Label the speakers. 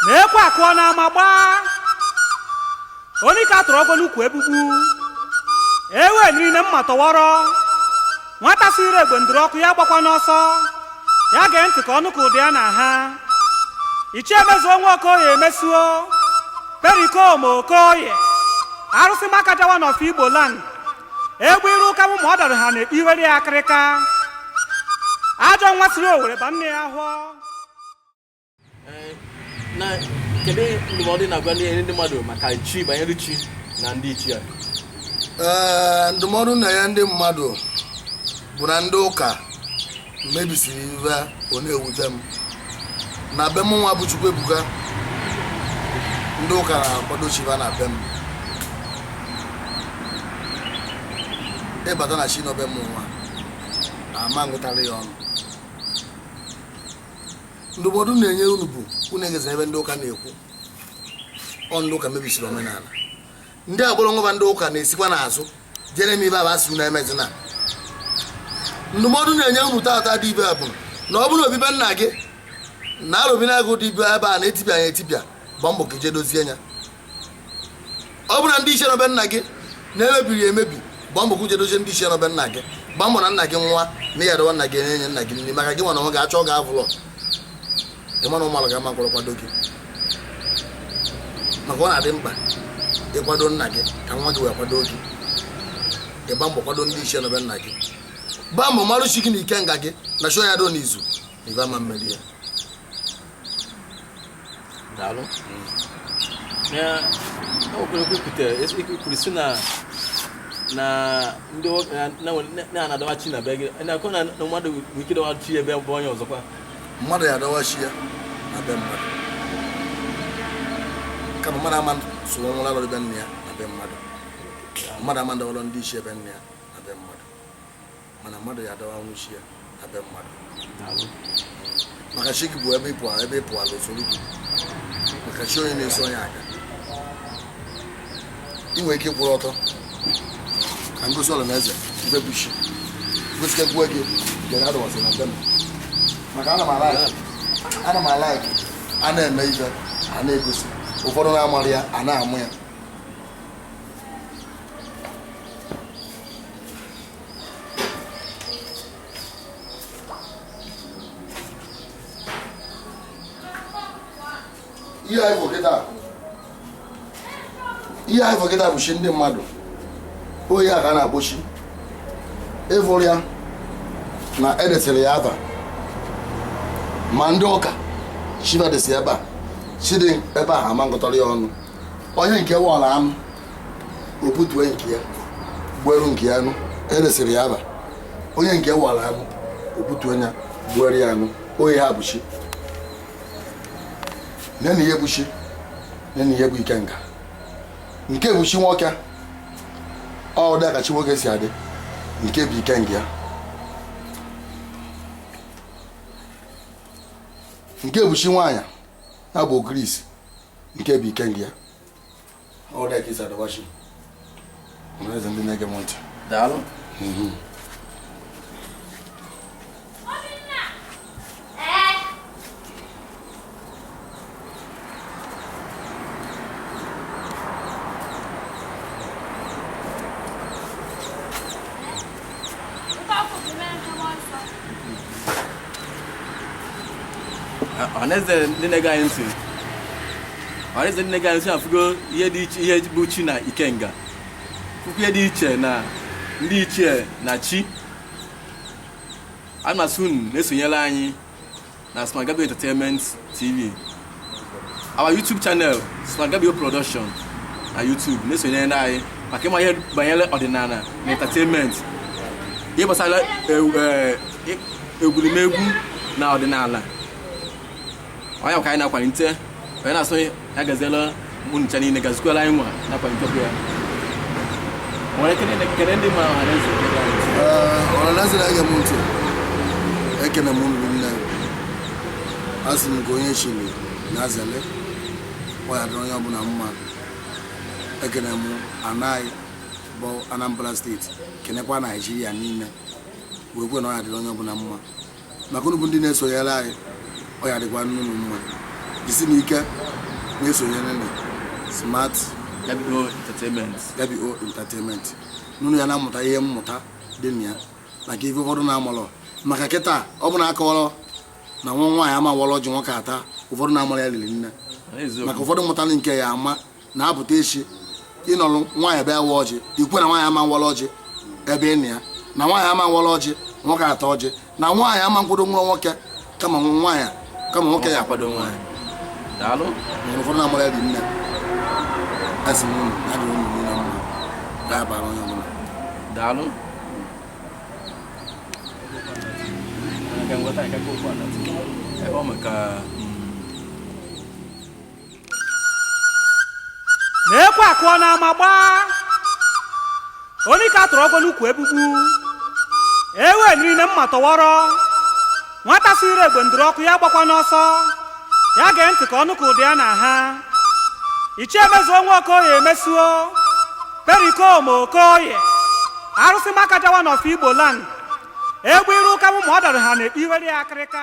Speaker 1: na ekwe akụọ n'ama gbaa onye ka tụrụ ọgọ n'ukwu egbugbu ewe niile mma tọwọrọ nwata siri egbe ndụrụ ọkụ ya gbakwana ọsọ ya gee ntị ka ọ nụ ka ụda ya na-aha Ichie Mezuo nwa Okoye Mezuo Pericom Okoye arụsị Makaja one of Igbo land egbe iru ụka bụ ma ọ dara ha na iwere ya akịrịka ajọ nwa siri owere ba nne ya ahọ
Speaker 2: na kedu ndụmọdụ ị na-agwa ndị ndị mmadụ maka chi banyere chi na ndị ichie ee ndụmọdụ
Speaker 3: m na-enye ndị mmadụ bụ na ndị ụka mebisiri ive ọ na-ewute m na be m nwa bụ Chukwuebuka ndị ụka na-akwado chi va na be m ị bata na chi nọ be m nwa ama ngụtara ya ọnụ ndụmọdụ m na-enye unu bụ unu egeza ive ndị ụka na-ekwu ọ ndị ụka mebisiri omenala ndị agbụrụngwa ndị ụka na-esikwa n'azụ je eme ive va sị unu emezina ndụmọdụ m na-enye unu tata dị ibe bụ na ọ bụrụ obi be nna gị na arụbinagụ dị ibe ebe a na-etipịa ya etipịa gba mbọ ka i je dozie ya ọ bụrụ na ndị ichie nọ be nna gị na-emebiri ya emebi gba mbọ ka i je dozie ndị ichie nọ be nna gị gba mbọ na nna gị nwa na ya dọwa nna gị enye nna gị nri maka gị nwa na nwa ga-achọ ga-avụlọ ị ma na ụmụala ga-ama kwụrụ kwado gị maka ọ na-adị mkpa ịkwado nna gị ka nwa gị wee kwado gị ị gba mbọ kwado ndị ichie nọ be nna gị gbaa mbọ marụ chi gị na ikenga gị na chụọ ya do n'izu na ibe ama mmeri ya
Speaker 2: daalụ na okwere kwupụta kwuru si na na ndị na-adọwa chi na be gị na-akọ na mmadụ nwere ike dọwa chi ebe bụ onye ọzọkwa mmadụ ya-adọwa
Speaker 3: chi ya na be mmadụ kama mmadụ ama soro nwụrụ alụrụ be nne ya na be mmadụ mmadụ ama ndọwalọ ndị ichie be nne ya na be mmadụ mana mmadụ ya-adọwanwu chi ya na be mmadụ maka chi gị bụ ebe ị pụ ebe ị pụala o soro gị maka chi onye na-eso onye aga ị nwere ike kwụrụ ọtọ ka m gosi ọla na eze ive bụ chi gosi ka gbuo gị jere adọwa chi na be m maka ana m a-like ana m a-like a na-eme ife a na-egosi ụfọdụ na-amara ya a na-amụ ya ihe anyị fụ kịta ihe anyị fụ kịta bụ chi ndị mmadụ ọ ya ka a na-akpọ chi ị fụrụ ya na e desịrị ya aba ma ndị ụka chi va desi ebe a chi dị ebe ahụ ama ngụtọrọ ya ọnụ onye nke wọla anụ o butue nke ya gbueru nke ya anụ e desịrị ya aba onye nke wọla anụ o butue ya gbuere ya anụ ọ ya bụ chi nenụ ihe bụ chi nenụ ihe bụ ikenga nke bụ chi nwoke ọ dị ka chi nwoke si adị nke bụ ikenga ya nke bụ chi nwaanyị ya bụ ogirisi nke bụ ikenga ya ọ dị ka e si edowa chi ọhaneze ndị na-ege m ntị
Speaker 2: daalụ mhm. ọhaneze ndị na-ege anyị ntị ọhaneze ndị na-ege anyị ntị a fụgo ihe dị iche ihe bụ chi na ikenga fụkwa ihe dị iche na ndị ichie na chi ana m asị unu na-esonyere anyị na Smagabio Entertainment TV our YouTube channel Smagabio Production na YouTube na-esonyerenụ anyị maka ịma ihe banyere ọdịnala na entertainment ihe gbasara e, e, egwuregwu na ọdịnala ọ ya ka anyị na-akwalite onye na-asị ọ ya-agaziela unu ncha niile gazikwala anyị nwa nakwa ntọpụ ya m wee kene ndị ma ọhaneze ọhaneze
Speaker 3: na-ege m ntị ekene m unu rinne asị m ka onye chiri ya zelu ọ ya-adịrị onye ọbụla mma ekene m ana anyị bụ Anambra steeti kenekwa Naijiria niile wee kwuo na ọ ya-adịrị onye ọbụla mma maka unu bụ ndị na-esonyere anyị ọ ya-adịkwanụ unu mma jisinụ ike na-esonyerenụ Smart WO
Speaker 2: Entertainment WO Entertainment
Speaker 3: na unu ya na-amụta ihe mmụta dị na ya maka ife ụfọdụ na-amalọ maka kịta ọ bụ na a kọwalụ na nwa nwaanyị ama awalụ ọjị nwoke ata ụfọdụ na-amara ya rinne maka ụfọdụ mmụta nke ya ama na-apụta echi ịnọrọ nwaanyị bịa wa ọjị ikwe na nwaanyị ama nwere ọjị ebe ị na ya na nwaanyị ama nwere ọjị nwoke ata ọjị na nwaanyị ama nkwado nwa nwoke kama nwoke ya akwado nwaanyị daalụ
Speaker 2: nwere ụfọdụ na-amara
Speaker 3: dị nne asị m unu ya dịrị unu niile mma ya bara onye ọbụla
Speaker 2: daalụ ebe ọ maka
Speaker 1: na ekwe akụọ n'ama agbaa onye ka a tụrụ ọgwọ n'ukwu egbugbu ewe niile mma tọwọrọ nwata siri egbe nduru ọkụ ya agbakwana ọsọ ya gee ntị ka ọ nụkwa ụda ya na ha ichie mezuo nwa okoye mezuo pericoma okoye arụsị makaja one of igbo land egbe iru ụka mụ ma ọ dara ha na-ekpe iwere ya akịrịka